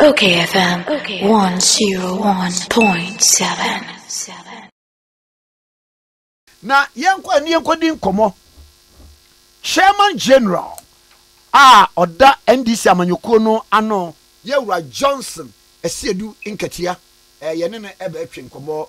Okay FM 101.7. na yɛnkɔ ani yɛnkɔdi nkɔmmɔ chairman general a ɔda ndc amanyɔkuo no ano yɛwura johnson asiedu nkatia eh, yɛne no ɛbɛtwe nkɔmmɔ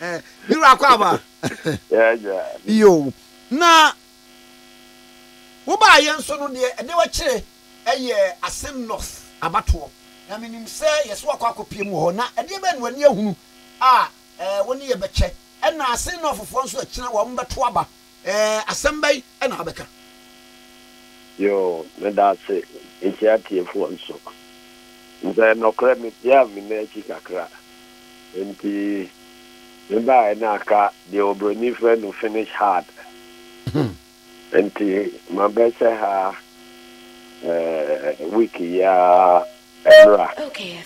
ne wura kɔ aba yo na wobaa yɛn so no deɛ ɛde wakyerɛ ɛyɛ asɛm north abatoɔ na menim sɛ yɛsɛ wakɔ akɔpie mu hɔ na ɛdeɛ bɛn no ani ahunu a wo ne yɛbɛkyɛ ɛna ase nɔfofoɔ nso akyina wɔn bɛto aba Eh asɛm bɛn na wabɛka. Yoo meda ase mekyia atiefoɔ nso. Sɛ nɔkorɛ me tiaa me nan akyi kakra nti me baeɛ na aka deɛ obroni frɛ no finish hard nti ma bɛ hyɛ ha eh week yi ara ɛmmra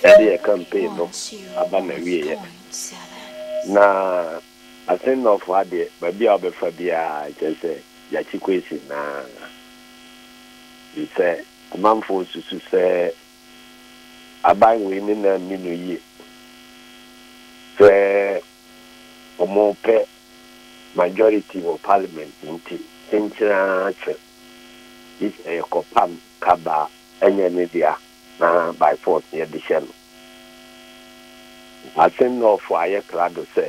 yɛde yɛ campaign no aba na wieɛ na Asɛnnɔfoɔ ha deɛ baabi a wobɛfa biara kyerɛ sɛ yɛakye Kwesi no ara. Ɛfiri sɛ amanfoɔ susu sɛ aban wei ne nan nni no yie, sɛ wɔpɛ majority wɔ parliament nti kyenkyere ara kyɛ gye sɛ yɛkɔpam kabaa ɛnyɛ ne dea na by force yɛde hyɛ no. Asɛm no a ɔfaa ayɛ krado sɛ,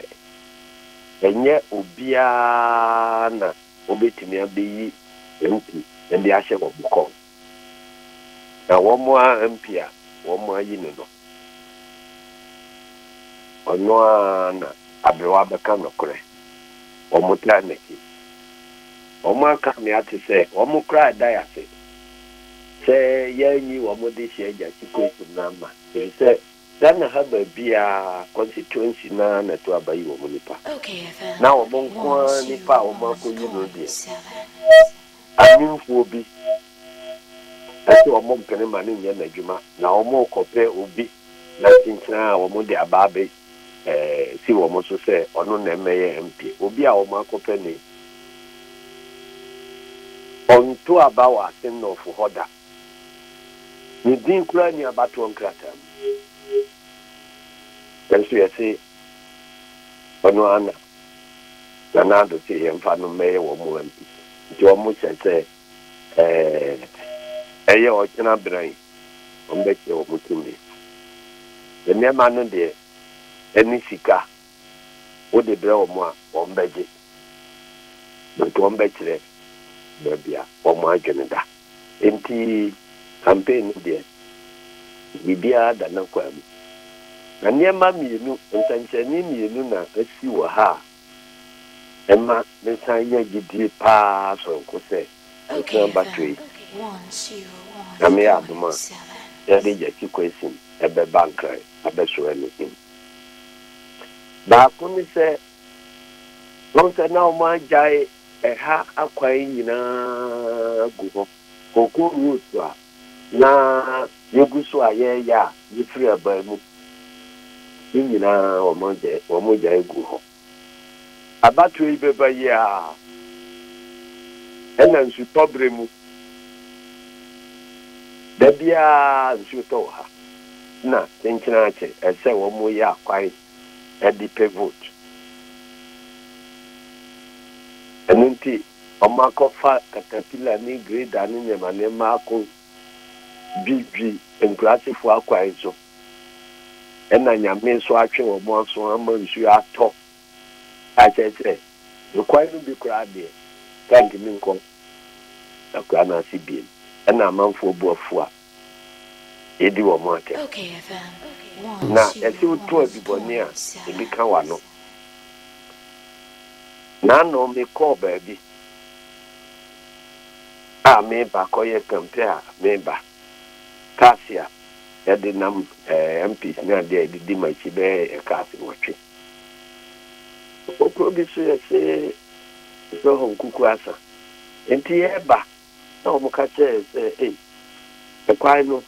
Ɛnyɛ obiara na wobetumi abeyi MP de ahyɛ wɔn kɔm, na wɔn ara MP a wɔayi no no, ɔno ara na aberewa bɛka nokorɛ. Wɔtaa nna akyi. Wɔaka me ate sɛ wɔn koraa da ase. sɛ yɛanyi wɔn dehyeɛ agya Kikweku Nama ɛfiri sɛ Ghana ha baabiara constituency no ara na ɛto aba yi wɔn nipa na wɔn nko ara nipa a wɔn akɔyi no deɛ amemfoɔ bi ɛsɛ wɔn mpene ma no nyɛ n'adwuma na wɔn rekɔpɛ obi na kyenkyen a wɔn de aba abɛ si wɔn so sɛ ɔno na ɛmmɛyɛ MP. Obi a wɔakɔpɛ no yi, ɔnto aba wɔ Asennɔfo hɔ da. Ne din koraa nni abatoɔ nkrataa mu. Nanso yɛse ɔno ara na Nana Addo se yɛmfa no mmɛyɛ wɔn MP. Nti wɔhyɛ sɛ ɛyɛ ɔkyena berɛn. wɔbɛkyerɛ wɔn tumi. Sɛ nneɛma no deɛ ɛne sika wode brɛ wɔn a, wɔbɛgye, but wɔbɛkyerɛ baabi a wɔn adwene da. Enti campaign no deɛ, biribiara da n'akwaa mu. Na nneɛma mmienu, nsɛnkyerɛnne mmienu na asi wɔ ha a ɛma mesan nya gyidie paa sononko sɛ mɛsan ba Twei. Nyame yɛ adom a, yɛde Gyasi Kwessim bɛba Nkran abɛsoɛ no in. Baako ne sɛ, woahu sɛ na wɔn agyae ɛha akwan nyinaa agu hɔ, Koko Road so a, na yegu so a yɛreyɛ a yefiri abaa mu ne nyinaa wɔgyae gu hɔ. Abatoɔ yi bɛba yi a ɛna nsutɔ berɛ mu da biara nsuo tɔ wɔ ha na kyenkyena akyɛ ɛsɛ wɔyɛ akwan de pɛ vote ɛno nti Wɔakɔfa katapila ne grader ne nneɛma nneɛma akodwidwi nkuraasefo akwan so, ɛnna Nyame nso atwe wɔn aso ama nsu atɔ, a kyerɛ sɛ, kwan no bi koraa deɛ, ɛntumi nkɔ akuraa no ase bio. Ɛnna amanfoɔ bo afu a yɛdi wɔn atɛm. Na ɛsɛ wotu adubɔne a ebi ka w'ano. N'ano mekɔɔ baabi a meba kɔyɛ kampɛ a meba, kaase a yɛde nam ɛɛ MPs ne adeɛ a yɛde di m'akyi bɛyɛ kaase nwɔtwe. Okuro bi so yɛse Zɔhɔ Nkuku Asa. Nti yɛba. na wɔka kyerɛɛ yɛn sɛ, Ei, ɛkwan no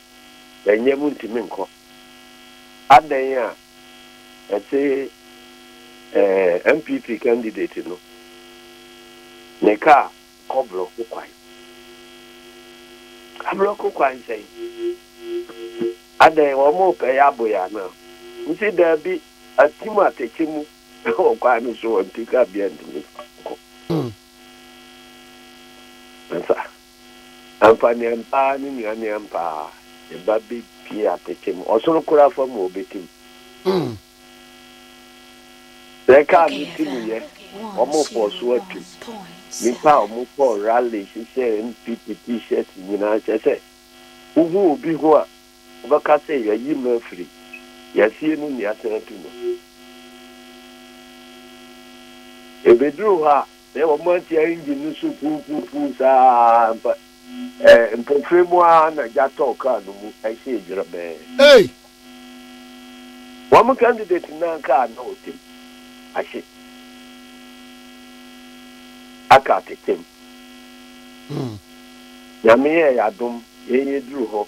nyɛ, muntumi nkɔ. Adɛn a ɛte ɛɛ NPP candidate no ne kaa kɔ blɔko kwan. Ablɔko kwan sɛn? Adɛn, wɔrepɛ yɛn abɔ yɛn anaa? Mese, Daabi, atim atɛkyɛ mu wɔ kwan no so, wɔnte kabea ntumi nkɔ. Masa. Ampa ne ampaa ne nua ne ampaa ne ba be pie apete mu ɔsoro kora fa mu ɔbete mu sɛ ɛkaa no ti mu yɛ ɔmo fɔ so atu nipa ɔmo kɔ rally hyehyɛ NPP t-shirt nyinaa kyɛ sɛ wo hu obi ho a Wɔbɛka sɛ, Yɛayi no afiri. Yɛasie no nni asan atu no. Ɛbɛduru hɔ a, na wɔate engine no so puupuupuu saa ara mpo. Mpofirim mu ara na gya tɔɔ kaa no mu hyɛɛ dwerɛbɛn. Ei! Wɔn candidate no anka a na ɔtam ahye aka atetem. Nyame yɛɛ yɛn adom, yɛn yɛduru hɔ.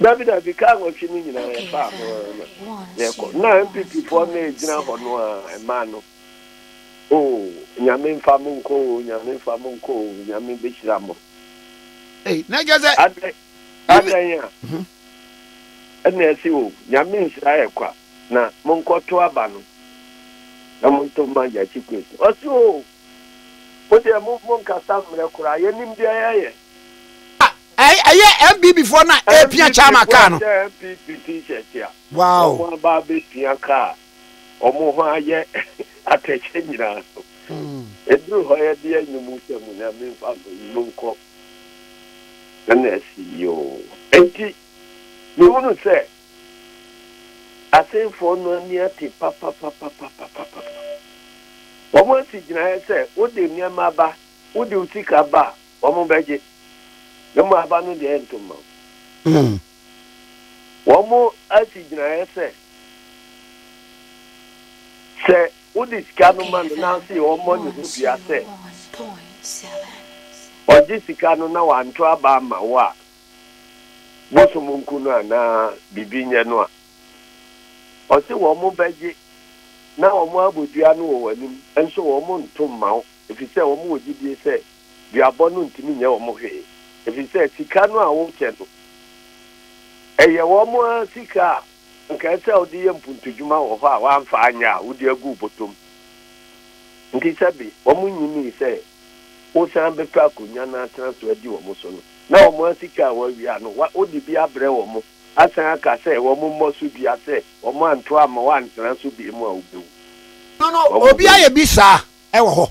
Dabi dabi car nwɔtwe no nyinaa yɛ faa ho na yɛ kɔ na NPP foɔ no ɛgyina hɔ no a ɛmaa no oo nyame nfa mo nkɔ oo nyame nfa mo nkɔ oo nyame bɛhyira mo. Ei na ɛgya sɛ. Adɛ adɛn a mhm. ɛna ɛsi oo nyame nhyira yɛ kwa na mo nkɔ to aba no na mo nto ma gya kyi kwesi ɔsi oo mo deɛ mo mo nkasa mmerɛ koraa yɛnim deɛ yɛyɛ. ɛyɛ npp foɔ na ɛpia chairman kaa no. npp t-shirt a wɔn aba abɛpia kaa wɔn ho ayɛ atɛkyɛ nyinaa no ɛduru hɔ yɛ deɛ nyɛ mu sɛ mu nyame mfa no mu nkɔ ɛna asi yoo enti mehunu sɛ asenfoɔ no ani ate papapapapapapa wɔn asi gyinaeɛ sɛ wode nneɛma ba wode wo sika ba a Wɔbɛgye, na mmom aba no deɛ ɛnto mma wo. Wɔasi gyinaeɛ sɛ, sɛ wode sika no ma no na afei ɔmmɔ ne ho dua sɛ ɔgye sika no na wanto aba amma wo a, bosom nku no anaa biribi nyɛ no a, ɔse wɔbɛgye na wɔabɔ dua no wɔ w'anim, nso wɔnto mma wo, ɛfiri sɛ wɔwɔ gyidie sɛ duabɔ no ntumi nyɛ wɔn hwee, efisɛ sika no a wokyɛ no, ɛyɛ wɔn ara sika a anka ɛsɛ sɛ wode yɛ mpuntudwuma wɔ hɔ a woamfa anyɛ a wode agu wo bɔtɔ mu. Enti sɛbe wɔnyinii sɛ wosan bɛpɛ akonnwa na atena so adi wɔn so no, na wɔn ara sika a wɔawia no, wode bi abrɛ wɔn, asan aka sɛ wɔmmɔ so dua sɛ wɔantoa amma wɔantena so bio mu a, wobewu. Wɔn mu biara. Obiara yɛ bi saa wɔ hɔ.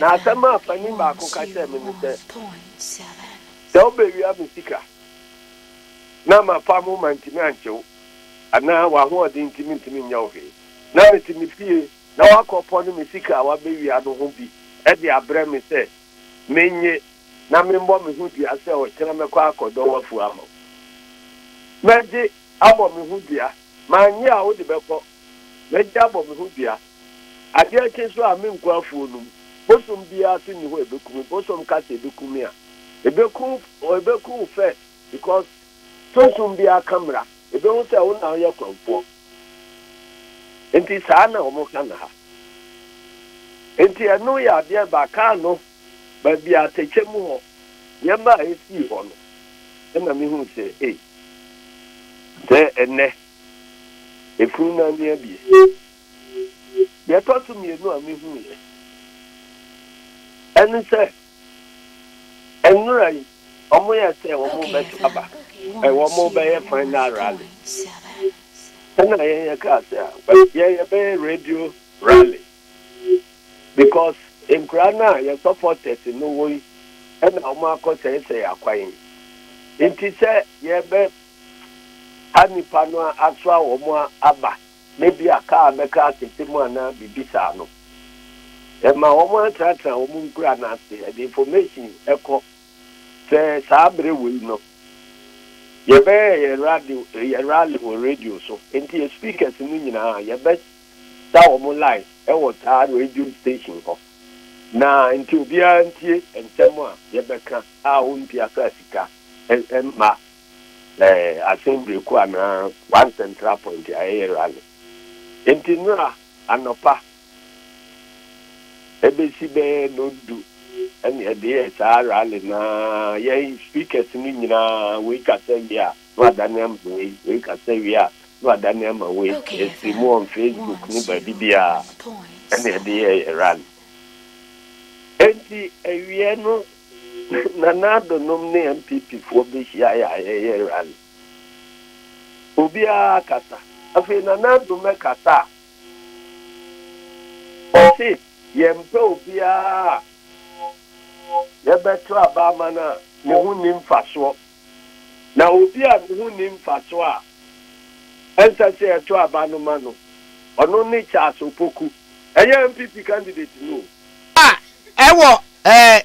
Na asɛm a panin baako ka kyerɛɛ me ne sɛ, Sɛ wobewia me sika na mafa mo mantumi ankyɛ wo anaa w'ahoɔden nti mentumi nyɛ wo hwee na mete me fie na woakɔpɔn me sika a wabewia no ho bi de abrɛ me sɛ mennye na memmɔ me ho dua sɛ ɔkyena mɛkɔ akɔdɔ w'afuo ama wo. Mɛgye abɔ me ho dua. Mannye a wode bɛkɔ. Mɛgye abɔ me ho dua. Adeɛ kye nso a, menkɔ afuo no mu. Bosom biara nso nni hɔ a ɛbɛku me. Bosom ka sɛ ɛbɛku me a, ɛbɛku wo, ɛbɛku wo first because sunsum biara ka mmara. Ɛbɛhu sɛ wo na woyɛ kwanfoɔ. Nti saa na wɔka no ha. Nti ɛno yɛ adeɛ ba kaa no baabi a atɛkyɛ mu hɔ, nneɛma a ɛsii hɔ no, ɛna mehu sɛ ei, sɛ ɛnnɛ, ɛfunu no ani abue. Deɛ ɛtɔ so mmienu a mehuiɛ ɛne sɛ nnora yi wɔyɛ sɛ wɔrebɛto aba, wɔrebɛyɛ final rally. Ɛna yɛn yɛkaa sɛ a yɛn yɛbɛyɛ radio rally because nkura no a yɛ supporters no wɔ yi ɛna wɔakɔsɛesɛe akwan yi. Nti sɛ yɛbɛha nnipa no asoa wɔn aba. na ebia kaa bɛka asɛsɛm anaa biribi saa no, ɛma wɔatenatena wɔn nkura no ase, ɛde information kɔ. Sɛ saa bere wei no, yɛbɛyɛ yɛn radio, yɛn rally wɔ radio so, enti yɛn speakers no nyinaa yɛbɛsa wɔn line wɔ saa radio station hɔ, na enti obiara ntie nsɛm a yɛbɛka a ɔmpiasaa sika mma na asen breku anaa one central point a ɛyɛ rally. Enti nnora anɔpa ɛbɛsi bɛyɛ noon du ɛna yɛde yɛɛ saa rally no ara, yɛn speakers no nyinaa wei kasa wie a na wadane ama wei, wei kasa wie a na wadane ama wei, yɛsii mu on Facebook ne baabi biara ɛna yɛde yɛɛ yɛn rally. Enti awieɛ no Nana Addo nom ne NPP foɔ bɛhyiaeɛ a yɛyɛ rally. Obiara akasa. Afei Nana Addo mmɛkasa a, ɔse yɛmpɛ obiara a yɛbɛto aba ama no a ne ho nni mfasoɔ. Na obi a ne ho nni mfaso a ɛnsɛ sɛ yɛto aba no ma no, ɔno ne Charles Opoku. Ɛyɛ NPP candidate no o. A ɛwɔ ɛɛ. Sɛ.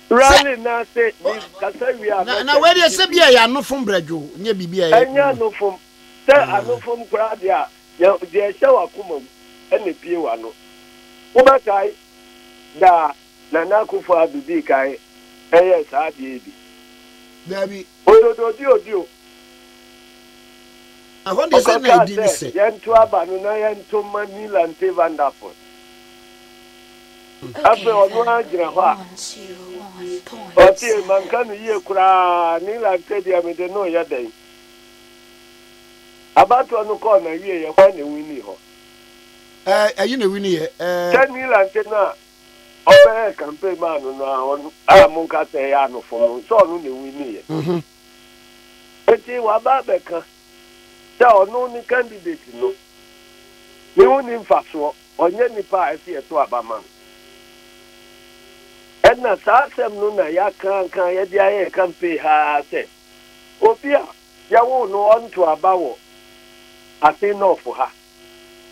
Rally no ase, me kasa wie a mɛsɛnde cd. Na wei deɛ sɛ bi a ɛyɛ anofom brɛdwoo, nyɛ biribi a ɛyɛ. Ɛnyɛ anofom. Sɛ anofom koraa deɛ a, deɛ ɛhyɛ w'akoma mu na ebue w'ano. Wobɛkae daa. Nana Akufo-Addo dii kan yɛɛ saa adeɛ yi bi? Daabi. Ododoodiodio. Ɛhɔ deɛ sɛ na ɛdi ne sɛ. Yɛnto aba no na yɛnto mma Neil Ante Van Der Poel. Afei ɔno ara gyina hɔ a, ɔtee manka no yie koraa, Neil Ante deɛ mede no reyɛ dɛn? Abatoɔ no kɔɔ n'awieeɛ, hwan na ɛwiniiɛ hɔ? Ɛɛ, ayi na ɛwiniiɛ. Ɛɛ. Sɛ Neil Ante no a, Ɔbɛyɛɛ campaign man no no a ɔno a monka sɛ ɛyɛ anofo no sɛ ɔno na ewiniiɛ. Mhm. Nti waba abɛka sɛ ɔno ne candidate no. Me ho nni mfasoɔ, ɔnyɛ nipa a ɛsɛ yɛto aba ma no. Ɛna saa asɛm no na yɛakankan yɛde ayɛ campaign ha ara sɛ obi a yɛwoo no ɔnto aba wɔ Asin North ha.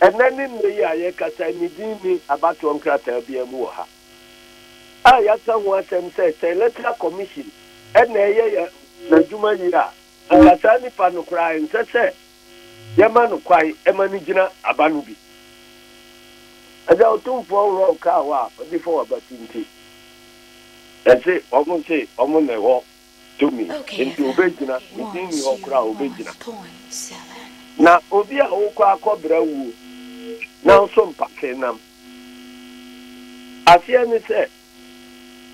Ɛnnɛ ne nnɛ yi a yɛrekasa yi, ne din nni abatoɔ nkrataa biara mu wɔ ha a yɛaka ho asɛm sɛ sɛ Electoral Commission na ɛreyɛ yɛn n'adwuma yie a, anka saa nipa no koraa ɛnsɛ sɛ yɛma no kwan ma no gyina aba no bi. Agya Otumfoɔ worɔ ɔkaa hɔ a ɔde fa w'abati nti, ɛse wɔn se wɔn na ɛwɔ tumi, enti obegyina, ne din nni hɔ koraa a obegyina. Na obi a wokɔ akɔbra wuo, nanso mpate nam. Aseɛ ne sɛ,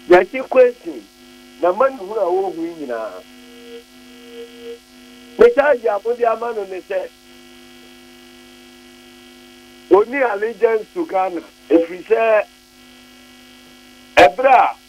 Gyakye Kwesing, n'amanehunu a ɔrehu yi nyinaa, ne charge a wɔde ama no ne sɛ, ɔnni allegiance to Ghana, ɛfiri sɛ, ɛberɛ a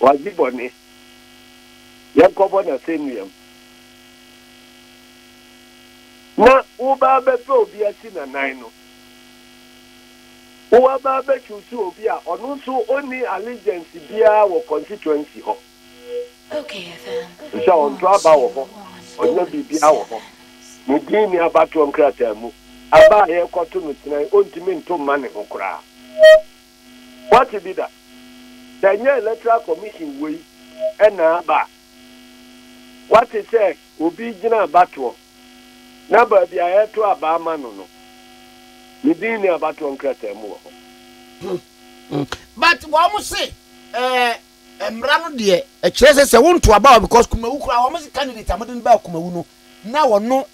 Ɔadzi bɔne. Yɛnkɔbɔ no asɛnduam. Na woba abɛpɛ obi asi n'anan no. Woaba abɛ choose obi a ɔno so ɔnni allegiance biara wɔ constituency hɔ. Efisɛ ɔnntɔ aba wɔ hɔ, ɔnnya biribiara wɔ hɔ. Ne din nni abatoɔ nkrataa mu. Aba a yɛrekɔto no kyenae, ɔnntumi nnto mma ne ho koraa. Woate bi da? Sɛ ɛnyɛ Electoral Commission wei na aba a, woate sɛ obi gyina abatoɔ na baabi a yɛto aba ama no no, ne din nni abatoɔ nkrataa mu wɔ hɔ? But wɔn se ɛɛ mmara no deɛ ɛkyerɛ sɛ sɛ wonto aba wɔ because Kumawu koraa wɔn se candidate a mode no baa Kumawu no na ɔno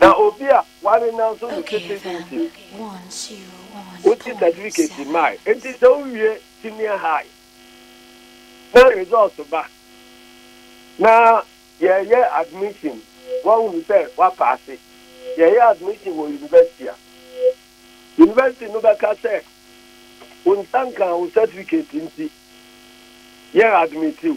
Na obi a ware nanso ne sete ho nti, wogye sɛtifiketi mae. Enti sɛ wowie Senior High na results ba na yɛreyɛ admission, wɔahu sɛ woapaase, yɛreyɛ admission wɔ university a, university no bɛka sɛ wo nsa nkaa wo sɛtifiketi nti yɛn admit wo.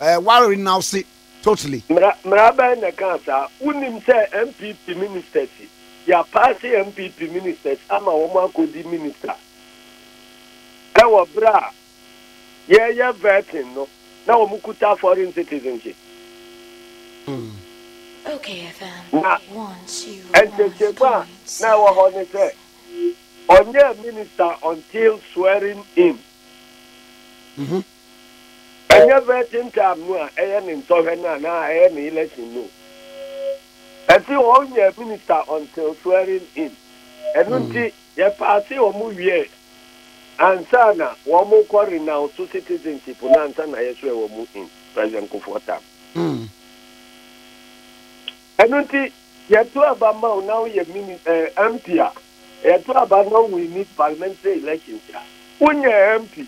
Eh, w'awere now se totally. Mmara mmara bɛn na ɛkaa saa? Wonnim sɛ NPP ministers yi, yɛapaase NPP ministers ama wɔn akɔdi minister wɔ berɛ a yɛreyɛ vetting no na wɔn kuta foreign citizenship. Na ntetemu a na ɛwɔ hɔ ne sɛ ɔnyɛɛ minister until swearing in. Ɛnyɛ vetting time no a ɛyɛ ne nsɔhwɛ no anaa ɛyɛ ne election no. Ɛse wɔn nyɛ minister until swearing in. Ɛno nti yɛ paase wɔn wiɛ ansa na wɔn kɔ renounce citizenship no ansa na yɛ swear wɔn in. President Kufuor term. Ɛno nti, yɛto aba ma wo na woyɛ mini ɛɛ MP a, yɛto aba na wowini parliamentary elections a, wonyɛ MP.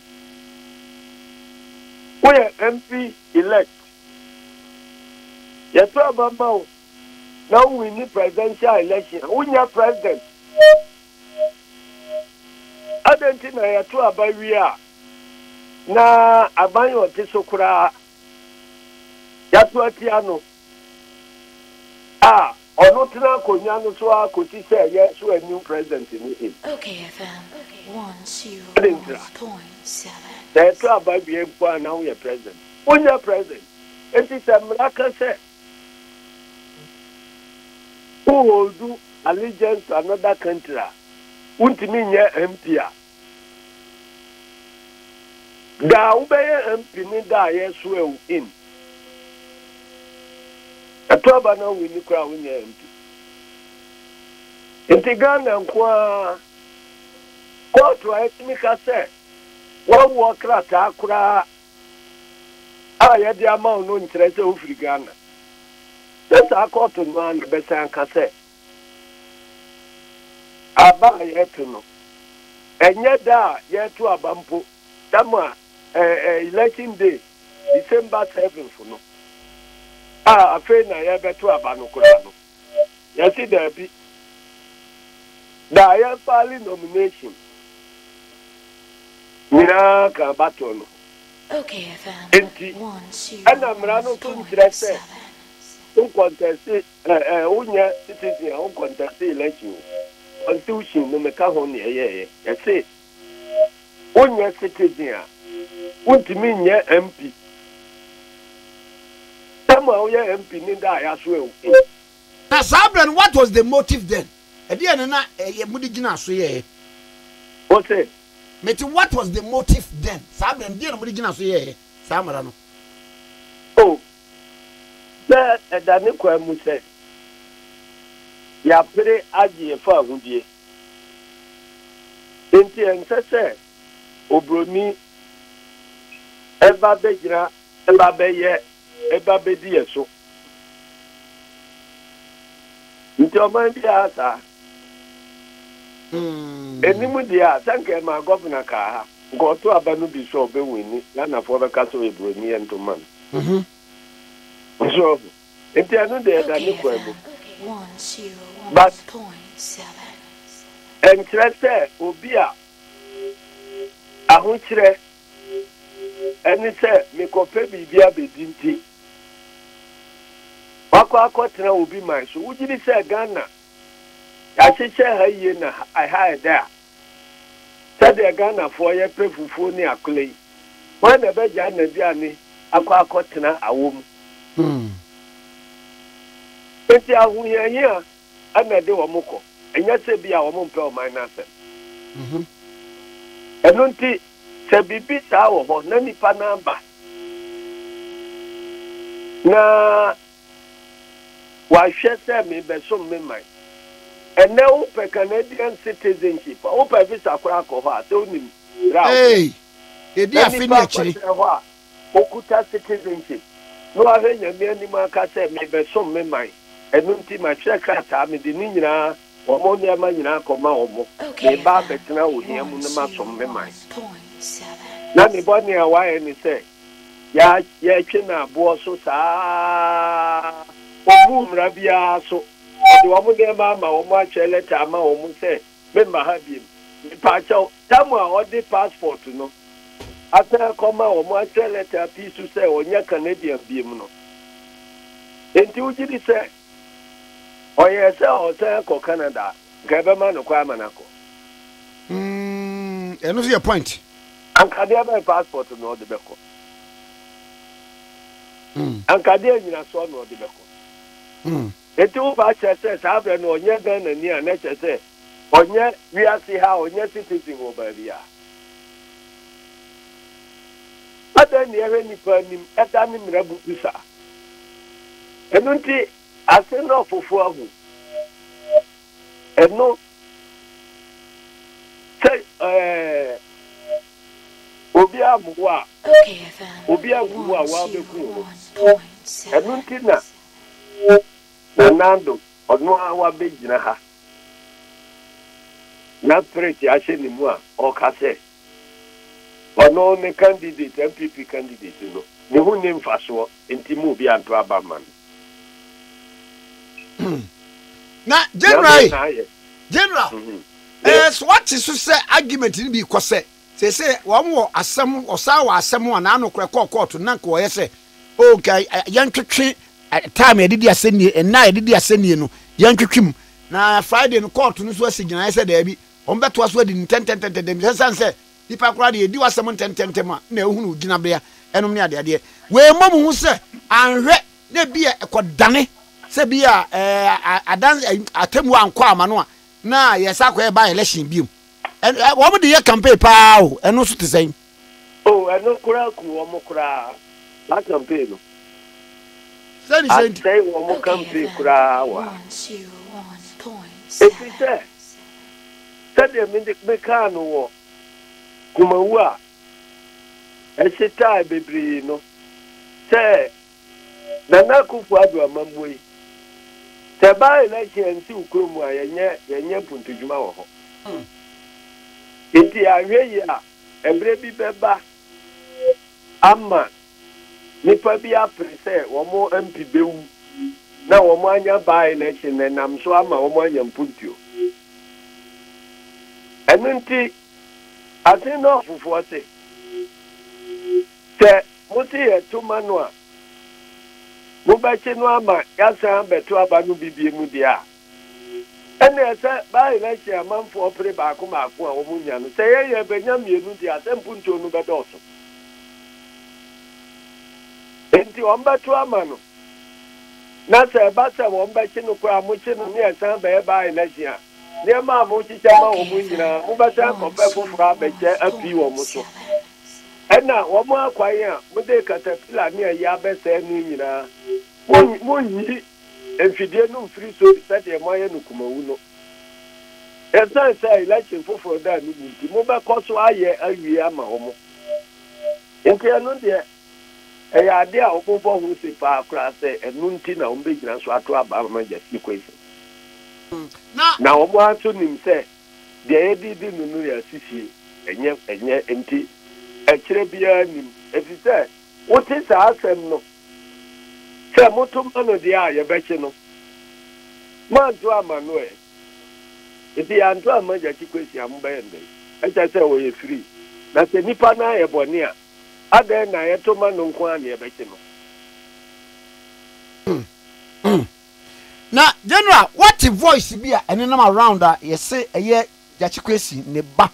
Woyɛ MP elect. Yɛto aba ma wo na wowini presidential election a, wonyɛ president. Adɛn nti na yɛto aba wie a, na aban a ɔte so koraa yɛato atia no? A, ɔno tena akonwa no so ara kosi sɛ yɛn so a new president no in. Adɛn ntira? Sɛ ɛtɔ aba bie mpo a na wo yɛ president. Wo nyɛ president. Enti sɛ mmara ka sɛ wo hold allegiance to another country a, wo ntumi nyɛ MP a, Da a wobɛyɛ MP ne da a yɛsoɛɛ wo in. Ɛto aba na wonni koraa a wonyɛɛ MP. Nti Ghana nko ara kɔɔto a ɛtumi ka sɛ woawoɔ krataa koraa a yɛde ama wo no nkyerɛ sɛ wofiri Ghana. Sɛ saa kɔɔto no ara na ɛbɛsan aka sɛ Aba a yɛto no, ɛnyɛ da a yɛto aba mpo, tam a ɛyɛ election day, December seventh no, a afei na yɛrebɛto aba no koraa no, yɛse daabi. Da a yɛfaale nomination nyinaa ka abatoɔ no ho. Enti, ɛna mmara no nso nkyerɛ sɛ wonkɔntɛste Ɛ ɛ wo nyɛ citizen a wo contest election o constitution no me ka ho ne ɛyɛ yɛ yɛ se wo nyɛ citizen a wo ntumi nyɛ MP tɛm a wo yɛ MP ne da a yɛ aso ɛwo e. Na saa berɛ no what was the motive then ɛdeɛ ne na ɛyɛ mo de gyina aso yɛ yɛ. Wo se. Me te what was the motive then saa berɛ no deɛ na mo de gyina aso yɛ yɛ saa mmara no. Oh. Sɛ ɛda ne kwan mu sɛ yɛapere agye yɛn fahodie nti, ɛnsɛ sɛ oburoni ba bɛgyina ba bɛyɛ ba bɛdi yɛn so. Nti ɔman biara saa. Ɛnim deɛ a, sɛ nka ɛmaa Gɔvena kaa ha, nka ɔto aba no bi sɛ ɔbɛwini, Ghanafoɔ bɛka sɛ ɔyɛ buroni yɛnto mma no. So ɔho? Nti ɛno deɛ ɛda ne kwan mu. But ɛnkyerɛ sɛ obi a ahokyerɛ ne sɛ mekɔpɛ biribi abɛdi nti wakɔ akɔtena obi man so. Wogyedi sɛ Ghana Yɛahyehyɛ ha yie na ɛha ayɛ dɛ a, sɛdeɛ Ghanafoɔ yɛpɛ fufuo ne akole yi, hwan na ɛbɛgyae n'aduane akɔ akɔtena awɔ mu? Enti ahohiahia na ɛde wɔn kɔ, ɛnyɛ sɛ bi a wɔmpɛ ɔman no asɛm. Ɛno nti, sɛ biribi saa wɔ hɔ na nnipa no aba na Wahwɛ sɛ merebɛsom me man. Ɛnnɛ wopɛ Canadian citizenship a, wopɛ visa koraa kɔ hɔ a, sɛ wonim bere a wobɛyɛ. Ei, yɛdi Na afe ne nipa akyire. akɔkyerɛ hɔ a, okuta citizenship, na wahwɛ Nyame anim aka sɛ merebɛsom me man, ɛno nti matwerɛ krataa, mede ne nyinaa, wɔn nneɛma nyinaa akɔma wɔn, mereba abɛtena wo hia mu na masom me man. Na ne bɔne a wayɛ ne sɛ, Yɛ yɛtwe no aboɔ so saa ara. Wɔmmuu mmara biara so. Wɔde wɔn nneɛma ama, wɔatwerɛ lɛta ama wɔn sɛ memma ha bio. Mepakyɛw, tam a ɔde passport no asan akɔma wɔn atwerɛ lɛta pii so sɛ ɔnyɛ Canadian bio no, enti wogye di sɛ. Ɔyɛɛ sɛ ɔresan akɔ Canada a, anka yɛbɛma no kwan ama no akɔ. Mm, ɛno nso yɛ point. Anka deɛ bɛn passport na ɔde bɛkɔ? Mm. Anka deɛ nyinasoɔ na ɔde bɛkɔ? Mm. Eti wo ba kyerɛ sɛ saa berɛ no ɔnyɛ Ghana ni a na kyerɛ sɛ Ɔnyɛ wiase ha, ɔnyɛ citizen wɔ baabi a. Adɛn na yɛhwɛ nnipa anim da ne mmara bubu saa? Ɛno nti ase no ɔfofo ahu. Ɛno sɛ ɛɛ obi ammoa a, obi anku wo a, woabɛku wo ho. Ɛno nti na Nana Addo. Ɔno ara wabɛgyina ha, na spirit ahyɛ ne mu a ɔka sɛ ɔno ne candidate, NPP candidate no, ne ho nni mfasoɔ, nti mo obi anto aba mma no. Na General, General, ɛɛ so wate so sɛ argument no bi kɔ sɛ, Sese wɔn wɔ asɛm wɔsaa wɔ asɛm a naano kora kɔɔ kɔɔto na nka wɔyɛ sɛ oh nka yɛntwetwe time a yɛde di asɛnnie nna a yɛde di asɛnnie no yɛntwetwe mu na Friday no kɔɔto no nso asi gyinaeɛ sɛ daabi wɔn bɛtoa so adi no ntɛntɛntɛntɛm ɛsiane sɛ nipa koraa deɛ yɛdi w'asɛm ntɛntɛntɛm a na ɛhunu wo gyinabea ɛnom ne adeadeɛ wei mmɔ mo ho sɛ anhwɛ na ebia ɛkɔdane sɛ ebia ɛɛ adan atemmuo ankɔ ama no a na yɛsa akɔyɛ by election biom. Wɔn de yɛ campaign paa o, ɛno nso te sɛn? Oh, ɛno koraa ku wɔn koraa, saa campaign no. Sɛn ni sɛn ti? Asɛe wɔn campaign koraa wɔ ha. Efisɛ, sɛdeɛ me de me kaa no wɔ Kumawu a ɛhyetae bebree no, sɛ Nana Akuffo Addo amammui. Sɛ ɛba election a ɛnsiw kurom mu a yɛnyɛ yɛnyɛ mpuntudwuma wɔ hɔ. Nti anhwɛ yie a ɛberɛ bi bɛba ama nnipa bi apere sɛ wɔn MP bɛwu na wɔn anya by election na ɛnam so ama wɔn anya mpuntuo. Ɛno nti Asen North foɔ se. Sɛ mose yɛto ma no a, mobɛkye no ama yɛasan abɛto aba no bi biom deɛ a, ɛnneɛ sɛ by-election amanfoɔ pere baako baako a wɔnya no, sɛ yɛn yɛrebɛnya mmienu deɛ a, sɛ mpuntuo no bɛdɔɔso. Enti wɔbɛto ama no, na sɛ ɛba sɛ wɔbɛkye no koraa a, mokye no na yɛsan bɛyɛ by-election a, nneɛma a mohyehyɛ ma wɔn nyinaa, mobɛsan akɔpɛ foforɔ abɛkyɛ apii wɔn so. Ɛna wɔn akwan a mode katapila ne ayi abɛsɛe no nyinaa, monnyi mfidie no mfiri so te sɛ deɛ moayɛ no kumawu no. Ɛsiane sɛ election foforɔ da no mu nti, mobɛkɔ so ayɛ awie ama wɔn. Enti ɛno deɛ, ɛyɛ adeɛ a wɔmmɔ ho se paa koraa sɛ ɛno nti na wɔbɛgyina so ato aba ama Justin Quayson. Na wɔn ara nso nim sɛ Deɛ yɛde di no no yɛ asisie, ɛnyɛ ɛnyɛ nti ɛkyerɛ biara nnim. Ɛfiri sɛ wote saa asɛm no sɛ, Moto ma no deɛ a, yɛbɛkye no. Moanto amma no ɛ? Nti yɛanto amma Gyakye Kwesi a, mobɛyɛ no dɛn? Ɛkyerɛ sɛ ɔyɛ free. Na sɛ nnipa no ayɛ bɔne a, adɛn na yɛto ma no nko ara na yɛbɛkye no? Na General wate voice bi a ɛnenam around a yɛse ɛyɛ Gyakye Kwesi ne ba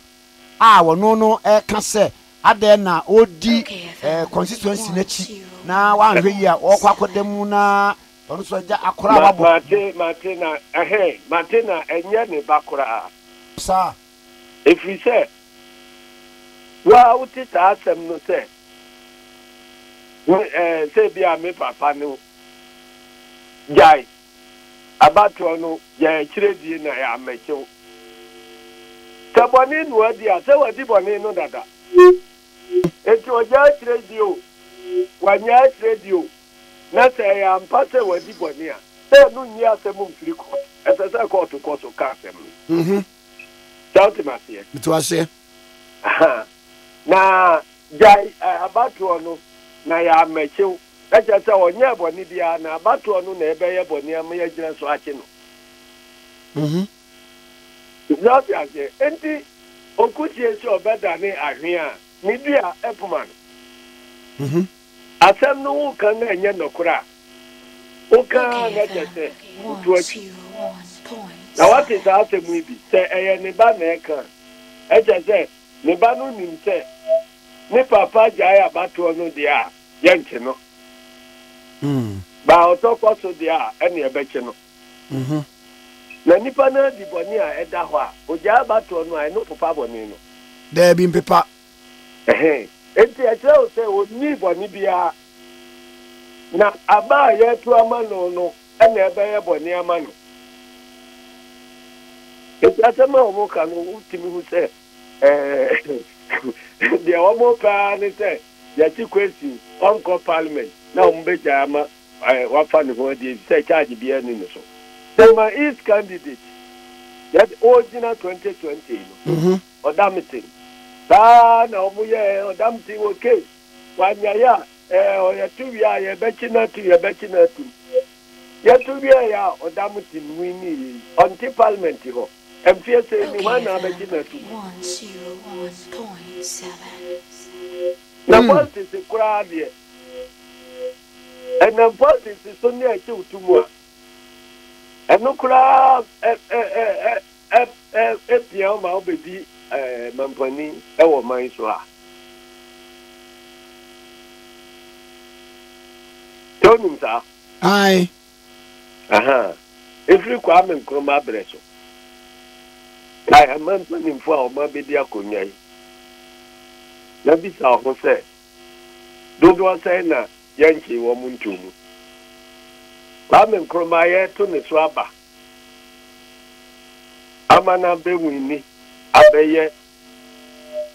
a wɔno no ɛreka sɛ adɛn na ɔredi constituency no akyi na woanhwɛ yie a ɔrekɔ akɔda mu na ɔno nso agya akora a wabɔ. Mate mate na ɛhe mate na ɛnyɛ ne ba koraa. Saa. Ɛfiri sɛ wo a wote saa asɛm no sɛ wo ɛɛ sɛ bi a me papa no Gyae abatoɔ no, gyae akyirɛdie na yɛ ammɛkyew. Sɛ bɔne no adi a, sɛ wadi bɔne no dada. Enti ɔgyae akyirɛdie o, wannyae akyirɛdie o, na sɛ ɛyɛ ampa sɛ wadi bɔne a, sɛ ɛno nyi asɛm mfiri kɔɔto. Ɛsɛ sɛ kɔɔto kɔ so ka asɛm no. Sɛ wote me aseɛ? Mete wo aseɛ. Aha. Na gyae abatoɔ no, na yɛ ammɛkyew. Na kyerɛ sɛ ɔnyɛɛ bɔne biara, na abatoɔ no na ɛbɛyɛ bɔne ama yɛagyina so akye no. Mm-hmm. So ate aseɛ? Enti ɔkusie sɛ ɔbɛdane ahwea a, ne dua ɛpoma no. Mm-hmm. Asɛm no woka na ɛnyɛ nɔkorɛ a, woka ara na kyerɛ sɛ wotu atwi. Na woate saa asɛm yi bi? Sɛ ɛyɛ ne ba na ɛka a, ɛkyerɛ sɛ ne ba no nim sɛ ne papa gyae abatoɔ no deɛ a, yɛnkye no. Baa ɔtɔ kɔ so deɛ a, ɛne ɛbɛkye no. Na nipa no adi bɔne a ɛda hɔ a, ogyae abatoɔ no a, ɛno popa bɔne no? Daabi, mpepa. Enti ɛkyerɛ wo sɛ ɔnnii bɔne biara, na aba a yɛreto ama no no na ɛbɛyɛ bɔne ama no. Enti asɛm a wɔka no, wotumi hu sɛ deɛ wɔpɛ ara ne sɛ Yɛte Kwesi ɔnkɔ parliament na wɔn bɛgyae ama wafa ne ho adi efisɛ charge biara nni ne so. Sɛ ma east candidate yɛ ɔgyina 2020 no ɔdamten saa na wɔn yɛ ɔdamten wɔ case wanyae a ɛɛ yɛto wie a yɛbɛkye no atum yɛbɛkye no atum yɛto wie a ɔdamten win yɛ ɔnte parliament hɔ. Mfeɛ sei mu hwan na abɛgye no atum? Na politics koraa deɛ, ɛnam politics so ne ɛkyew to mu a, ɛno koraa ɛ ɛ ɛ ɛ ɛ ɛpia wo ma wobɛdi ɛɛ mampanin ɛwɔ man so ha. Sɛ wonim saa? Ae. Aha! Ɛfiri Kwame Nkrumah berɛ so, kae aman mpanimfoɔ a wɔabɛdi akonnwa yi, na bisa wo ho sɛ, Dodoɔ sɛn na yɛnkyee wɔn ntoo mu? Kwame Nkrumah yɛreto ne so aba ama no abɛwini abɛyɛ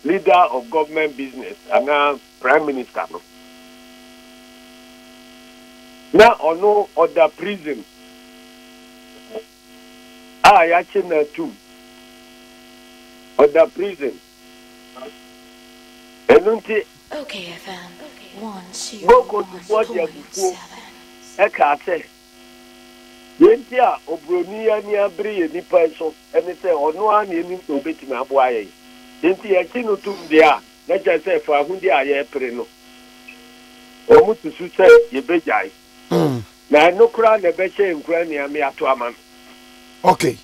Leader of Government Business anaa Prime Minister no, na ɔno ɔda prison a yɛakye no atum. Ɔda prison. Ɛno nti, Go Kontufo de abufuo kaa sɛ. Nea enti a oburoni ani abere yɛn nnipa yi so ne sɛ ɔno ara na yenim sɛ obetumi aboa yɛn. Enti yɛgye no tom de a, na kyerɛ sɛ fawohodi a yɛrepere no, wɔsusu sɛ yebegyae. Na ɛno koraa na ɛbɛhyɛ yɛn nkuran ne yɛn ato ama no. Okay.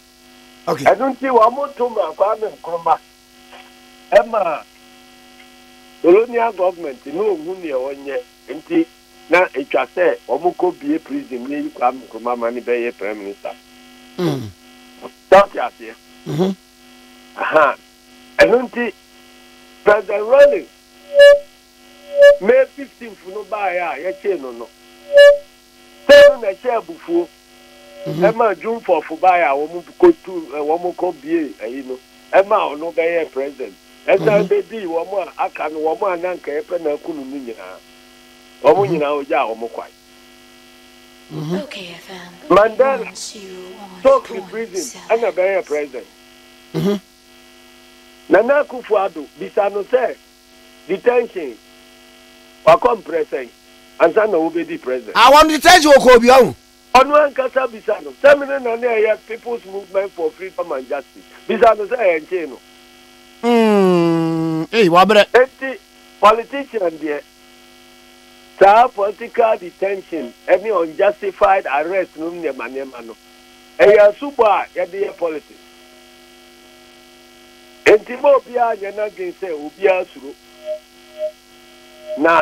Okay. Ɛno nti wɔto maa Kwame Nkrumah. Ɛma colonial government no ohu nea ɔnyɛ. Enti na etwa sɛ wɔn kɔ bie prison ni eyi Kwame Nkrumah ma ne bɛyɛ prime minister. Mm. Sọ́ọ̀tì aseɛ. Mm-hmm. Aha. Ɛno nti President Rawlings May 15th no baeɛ a yɛkyee no no sɛ no na ɛhyɛ abufuo mm-hmm. ɛma June 4th baeɛ a wɔn kɔtu wɔn kɔ bie ɛyi no ɛma ɔno bɛyɛ president ɛsan mm-hmm. bɛdii wɔn a aka no wɔn a nanka yɛpɛ na akunu no nyinaa. Wɔn nyinaa ogyaa wɔn kwan. Mandela, Stokely prison ɛna ɛbɛyɛɛ president. Nana Akufo Addo, bisa no sɛ detention wakɔ mprɛ sɛn ansa na wobedi president. Awɔn detention wɔ Kobi ɔho. Ɔno ankasa bisa no sɛ mene na na ɛyɛ People's Movement for Freedom and Justice. Bisa no sɛ ɛnkyee no. Umm ei wabrɛ. Enti politician deɛ saa political detention ne unjustified arrest nom nneɛma nneɛma no ɛyɛ asubɔ a yɛde yɛ politics. Enti mma obiara nyɛ n'adwene sɛ obiara suro na.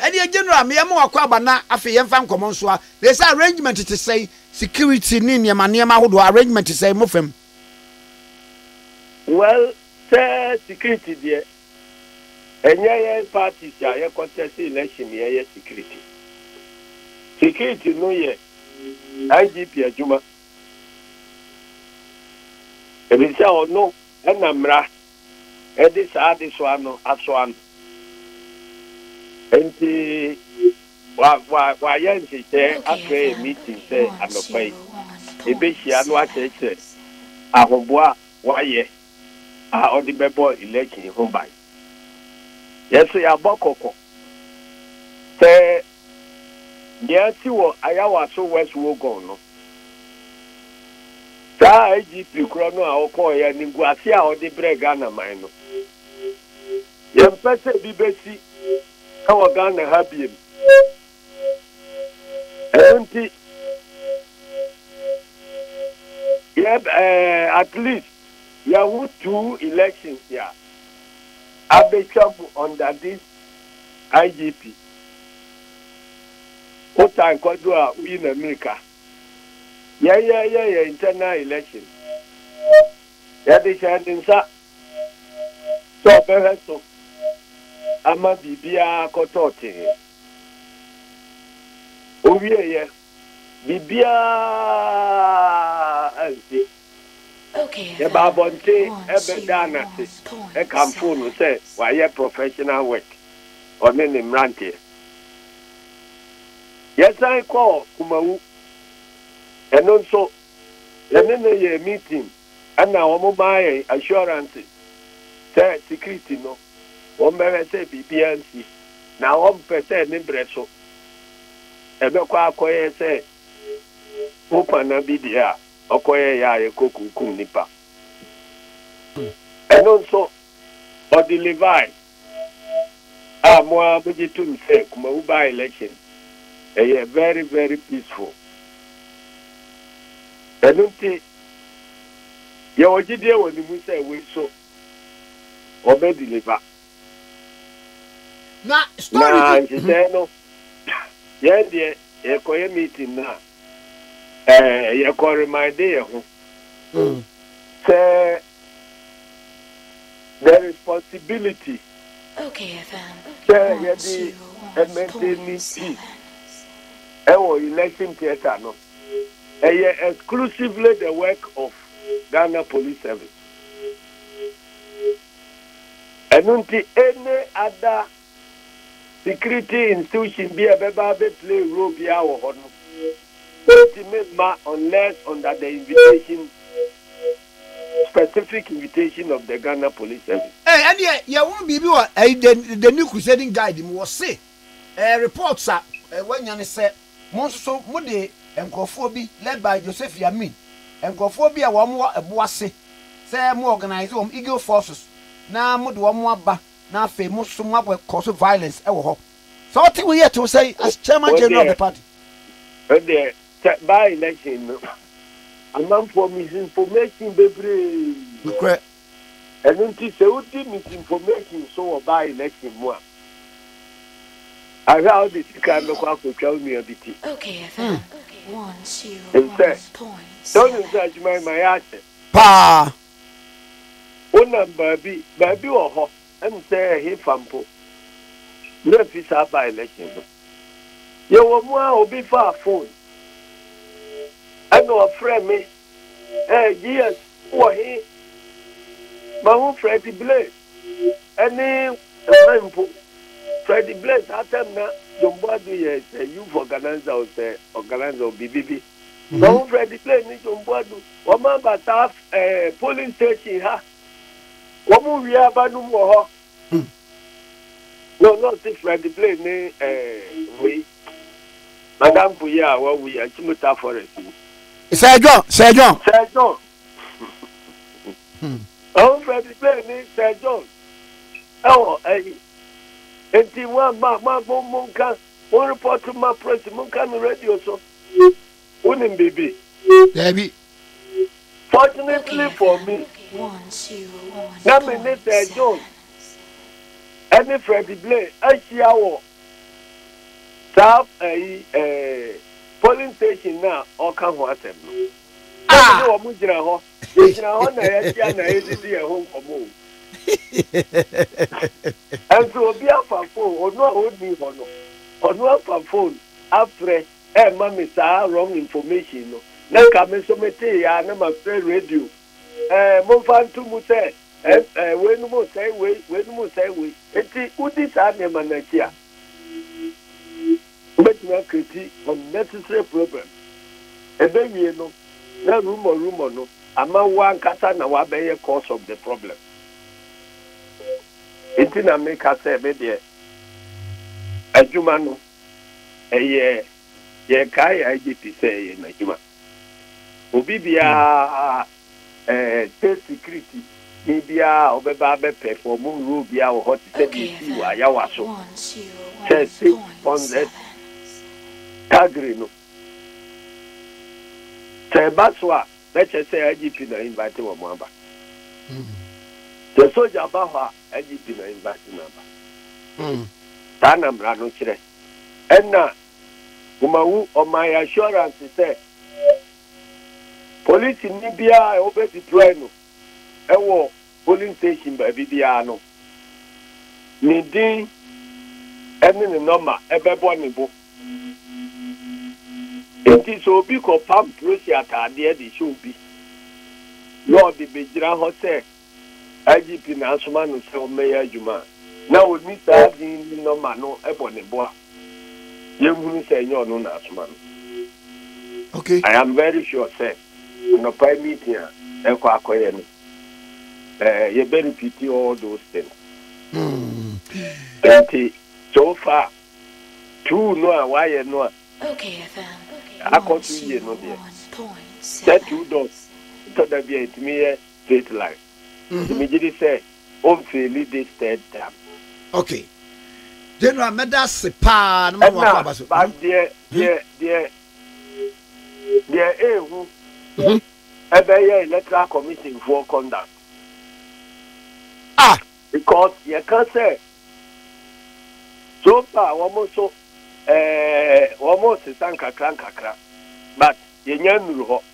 Ɛdeɛ General me yɛma wakɔ aba na afei yɛmfa nkɔmɔ nsoa. Na ɛsɛ arrangement te sɛn? Security ne nneɛma nneɛma ahodoɔ arrangement te sɛn mofam? Well sɛ security deɛ ɛnyɛ yɛn parties a yɛ contest election ne yɛyɛ security. Security no yɛ IGP adwuma. Ɛfiri sɛ ɔno ɛna mmra de saa adesoa no asoa no. Enti wa, wa, wayɛ nhyehyɛe afrɛ yɛn meeting sɛ anɔpa yi yebehyia na wakyerɛkyerɛ ahoboa a wayɛ a ɔde bɛbɔ election yi ho ban. Yɛso yɛabɔ kɔkɔ sɛ Nea asi wɔ Ayawaso West Wuogon no, saa IGP korɔ no a ɔkɔɔeɛ animguaseɛ a ɔde brɛɛ Ghana man no, yɛmpɛ sɛ bi bɛsi wɔ Ghana ha biom. Ɛno nti, yɛ eh, at least yɛn ho two elections a abɛtwa mu under this IGP. Wo time kwaduru a woyi na mirika. Yɛn yɛ yɛ yɛ internal election. Yɛde hyɛ ne nsa sɛ ɔbɛhwɛ so ama biribiara akɔtɔ tee. Owie yɛ. biribiara nte. Yɛbaa abɔnten bɛdaa no ase kamfoo no sɛ wayɛ professional work, ɔne ne mmeranteɛ. Yɛsan kɔɔ Kumawu, ɛno nso yɛne no yɛɛ meeting ɛna wɔmaa yɛn assurances sɛ security no wɔbɛhwɛ sɛ biribiara nsi, na wɔmpɛ sɛ ne berɛ so. Ɛbɛkɔ akɔyɛ sɛ wo kwanna bi deɛ a ɔkɔyɛeɛ a ɛkɔkunkum nnipa. Ɛno nso, ɔde Levi a mo ara mogye tom sɛ Kumawu by-election yɛ very very peaceful. Ɛno nti, yɛwɔ gyidie wɔ ne mu sɛ wei so. ɔbɛ deliver. Na story bi. Na nhyehyɛɛ no, yɛn deɛ yɛkɔ yɛ meeting no a, ɛɛ yɛkɔ reminde yɛ ho. Mm. Sɛ the responsibility. Okay, FM. Sɛ yɛde ɛmɛntɛni ti ɛwɔ election theatre no, ɛyɛ exclusively the work of Ghana Police Service. Ɛno nti any other security institution bi a ɛbɛba abɛ play role biara wɔ hɔ no, wɔntumi mma unless under the invitation, specific invitation of the Ghana Police Service. Ɛɛ ɛneɛ yɛwɔ biribi wɔ ɛyi the the new crusading guide mu wɔse ɛɛ reports a ɛɛ wanya ne sɛ. Mo nso so mo de nkorɔfoɔ bi led by Josephy Amin, nkorɔfoɔ bi a wɔn wɔ ɛbo ase sɛ mo organise wɔn Eagle Forces na mo de wɔn aba na afei mo nso so mo akɔ cause violence wɔ hɔ. Sɛ wo te wei a ɛte wo sɛn as Chairman General of the party? Wo deɛ sɛ by election no amanfoɔ misinformation bebree. Nokorɛ Ɛno nti sɛ wodi misinformation so wɔ baa election mu a, ahwɛ a wode sika no bɛkɔ akɔtwa wo nua bi ti. Nsɛ, sɛ wonim sɛ adwuma yi ma yɛahyɛ. Paa. Wonam baabi, baabi wɔ hɔ, ɛne sɛ ɛhefa mpo, werɛ fi saa baa election no. Yɛwɔ mu a obi faa phone ɛna ɔfrɛ me Eh Jesus wo wɔ he? Mahu Freddie Blay ɛne Nana mpo. Freddie Blay saa time na John Boadu yɛ sɛ youth organizer o sɛ organizer o biribi bi. Mhm. Mahu Freddie Blay ne John Boadu wɔn aba saa eh, polling station ha. Wɔn wie aba no mu wɔ hɔ. Hmm. No, no, ɔte Fred Blay ne ɛɛ wei. Madamfo yi a wawu yi, Achimota Forest mu. Sir John, Sir John. Sir John. Hmm. Ɔwɔ Fred Blay ne Sir John. Ɛwɔ ɛyi. Enti mo ama mo abɔ mo nka mo report ma press mo nka no radio so. Wonim biribi? Daabi. Fortunately for me, na me ne Sir John ne Freddie Blair ahyia wɔ saa ayi ɛɛ polling station no a ɔreka ho asɛm no. Na me ne wɔn gyina hɔ, yɛgyina hɔ na yɛahyia na yɛdidi yɛn ho nkɔmmɔ o. Nso obi afa phone, ɔno a ɔnni hɔ no, ɔno afa phone afrɛ. ɛɛma me saa wrong information no na nka me nso me tee aa na ma frɛ radio ɛɛ monfa nto mu sɛ ɛɛ wei nom nsɛe wei wei nom nsɛe wei nti wodi saa nneɛma no akyi a wobɛtumi akreti unnecessary problem ɛbɛwie no na rumor rumor no ama wo ankasa na wabɛyɛ cause of the problem nti na meka sɛ me deɛ adwuma no ɛyɛ yɛn kaa yɛ agye ti sɛ ɛyɛ n'adwuma obi biara ɛɛ tesi kiriti ni biara ɔbɛba abɛ pɛfɔm role biara wɔ hɔ te sɛ deɛ esi wɔ ayawa so sɛ se pɔnzɛ tagiri no sɛ ɛba so a bɛkyɛ sɛ agye ti na invite wɔn aba sɛ sogya ba hɔ a. Ayi gyina embassy no aba. Hmm. Saa na mmara no kyerɛ. Ɛna womahu ɔman assurance sɛ polisini biara a wobɛ deploy no ɛwɔ polling station baabi biara no, ne din ɛne ne nɔma ɛbɛbɔ ne bo. Enti sɛ obi kɔpam prosi ataadeɛ de hyɛ obi na ɔde bɛgyina hɔ sɛ IGP na asoma no sɛ ɔmmɛyɛ adwuma a, na ɔnni saa din ne nɔma no bɔ ne bo a, yɛnhunu sɛ ɛnyɛ ɔno na asoma no. Okay. I am very sure sɛ anɔpa yi meeting a ɛkɔ akɔyɛ no, eh, yɛbɛ repeat all those things. Nti, so far, two no a wayɛ no a akɔ so yie no deɛ, sɛ two doors, ɛtɔ da bi a ɛtumi yɛ straight line nti megye di sɛ ɔnfeeli this third term. Ok General mɛda ase paa na ma wakɔ aba so. Ɛna but deɛ deɛ deɛ deɛ ehu ɛbɛyɛ electoral commission foɔ conduct ah because yɛka sɛ so far wɔn nso ɛɛ wɔn resesa nkakra nkakra but yɛnya nnuru hɔ.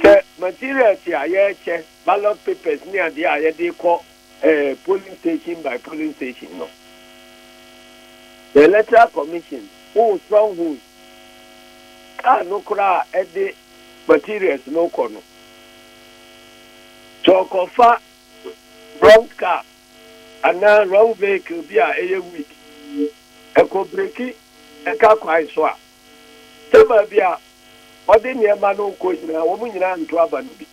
Sɛ materials a yɛrekyɛ, ballot papers ne adeɛ a yɛde rekɔ eh, polling station by polling station no, the electoral commission wo stronghold, car no koraa a ɛde materials no kɔ no, sɛ ɔkɔfa wrong car anaa wrong vehicle bi a ɛyɛ weak, ɛkɔ breki ɛka kwan so a, sɛ baabi a ɔde nneɛma no rekɔ nyinaa, wɔn nyinaa nto aba no bi.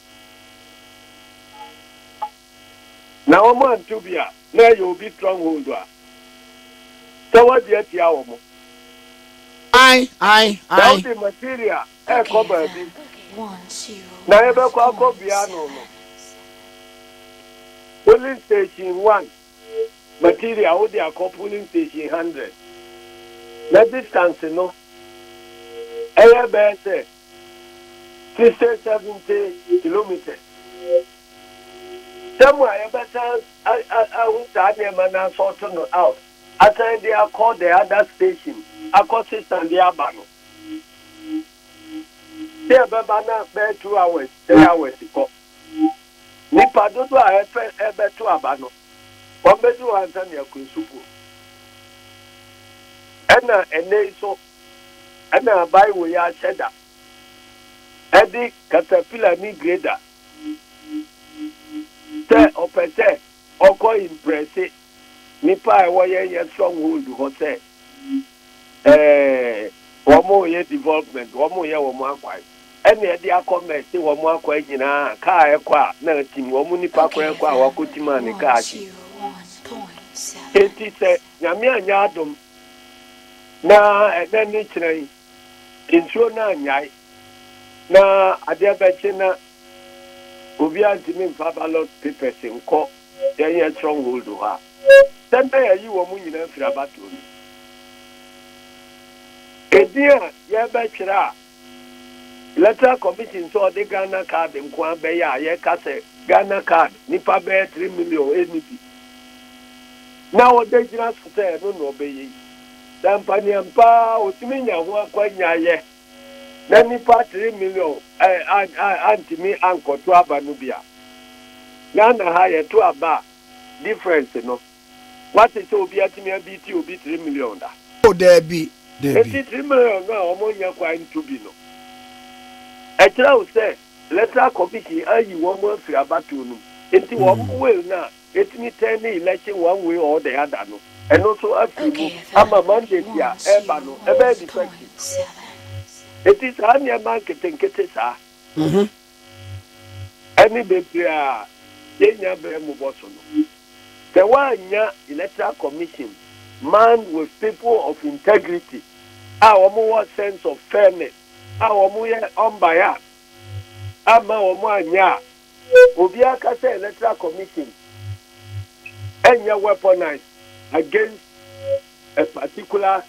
Na wɔn anto bi a, na ɛyɛ obi stronghold a sɛ wɔde atia wɔn. Ae, ae, ae. Sɛ wode material ɛrekɔ baabi na yɛbɛkɔ akɔ bia no no, polling station one. material wo de akɔ polling station hundred na distance no ɛyɛ bɛyɛ sɛ sixty seventy kilometres sɛ mo a yɛbɛsan ahu saa nneɛma no asɔɔto no out asan de akɔ the other station akɔ sesa de aba no sɛ ɛbɛba na bɛyɛ two hours three hours kɔ. Yiw, nnipa dodow a ɛrepɛ rebɛtow aba no, wɔbedu hɔ ansa na yɛakɔ nsu po. Ɛnna ɛnnɛ yi nso, ɛnna Bible yi ahyɛ da de katapila ne grader sɛ ɔpɛ sɛ ɔkɔ impresse nnipa a ɛwɔ yɛn yɛn stronghold hɔ sɛ ɛɛ, wɔreyɛ development, wɔreyɛ wɔn akwan, ɛna ɛde akɔ mɛte wɔn akwan nyinaa, kaa ɛkɔ a na atim, wɔn nnipa koraa ɛkɔ a wɔakɔtim a ne kaa akyi. Enti sɛ Nyame anyɛ adom na ɛnɛ ne kyerɛ yi, nsuo no annyae na adeɛ bɛkye na obiara ntumi mfa ballot papers nkɔ yɛnyɛ stronghold hɔ a, Dɛn na yɛayi wɔn nyinaa afiri abatoɔ no mu? Edin a yɛrebɛtwerɛ a Electoral Commission sɛ ɔde Ghana card nko ara bɛyɛ a yɛka sɛ Ghana card nnipa bɛyɛ three million nni bi na ɔde gyina so sɛ ɛno na ɔbɛyɛ yi. Sɛ ampanneampa ara ɔtumi nya ho akwannya yɛ na nnipa three million ɛ, a, a, antumi ankɔto aba no bi a, Ghana ha yɛto aba a, difference no wate sɛ obi atumi abiti obi three million da. Oh daabi daabi. Eti three million no a wɔn nya kwan ntu bi no ɛkyerɛ wo sɛ electoral commission ayi wɔn afiri abatoɔ no mu enti wɔn mm. will no a etumi turn ne election one way or the other no ɛno nso afiri mu ama mandate a ɛreba no ɛbɛyɛ defective eti saa nneɛma nketenkete saa. Mm-hmm. ne bebree a yenya bere mu bɔ so no. Sɛ woannya Electoral Commission manned with people of integrity a wɔwɔ sense of fairness a wɔyɛ unbiased amma wɔanyɛ a, obiara ka sɛ Electoral Commission nyɛ weaponized against a particular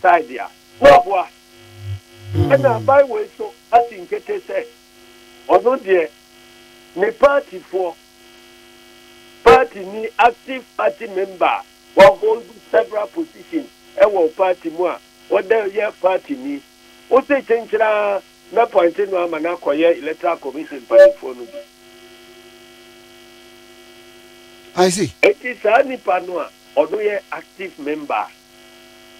side a, na ɔboa. Ɛnna aban wei nso asi nkete sɛ ɔno deɛ ne paatifoɔ, paatini, active party member a wahold several positions wɔ paati mu a ɔda yɛ paatini, wose kyenkyen ara mɛpɔinte no ama no akɔyɛ Electoral Commission mpanimfoɔ no bi. Enti saa nipa no a ɔno yɛ active member a.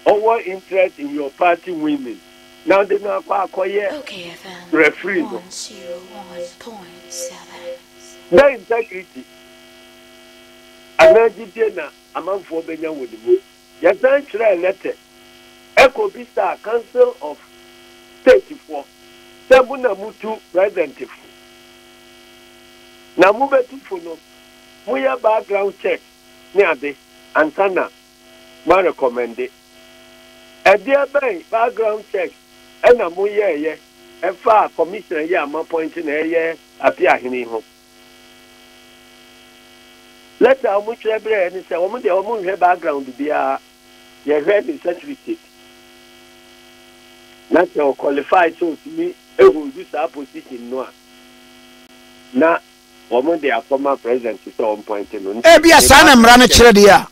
ɔwɔ interest in your party winning na ɔde no akɔ akɔyɛ referee no. Dɛn integrity anaa gyidie na amanfoɔ bɛnya wɔ ne mu? Yɛsan kyerɛɛ lɛtɛ kɔbisaa Council of State foɔ sɛ mo na motu president fo na mobɛtu fo no moyɛ background check ne ade ansa na ma rekɔmɛnde? Ɛdeɛ bɛn background check na mo yɛɛyɛ ɛfaa commissioner yi a mo appoint no ɛyɛ Apeahene yi ho? Letter a wɔn twerɛ brɛ yɛ ne sɛ wɔn deɛ wɔn nhwɛ background biara, yɛ hwɛ ne certificate na sɛ ɔ qualify sɛ ɔtumi hold saa position no a na wɔn de akɔma president sɛ ɔmpoint no. Ebia saa na mmara no kyerɛ deɛ a,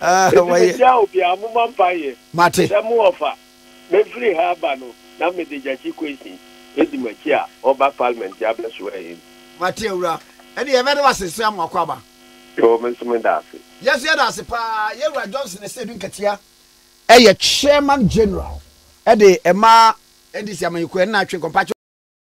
Ah, Enti wɔyɛ. mehyia obiara, momma mpa yɛ. Mate. Sɛ mo ɔfa, mɛfiri ha aba no, na mede Gyakye Kwesi bɛdi mo akyi a ɔreba Parliament abɛsoa yɛn. Mate Awura. Ɛne yɛbɛde wo ase sɛ amoako aba. Yoo, me nso meda ase. Yɛso yɛda ase paa. Yɛn Wura Johnson Asiedu Nketiah yɛ Chairman General de ɛma NDC amanyɔkuo, ɛne Atwe Nkɔmpakyɛ.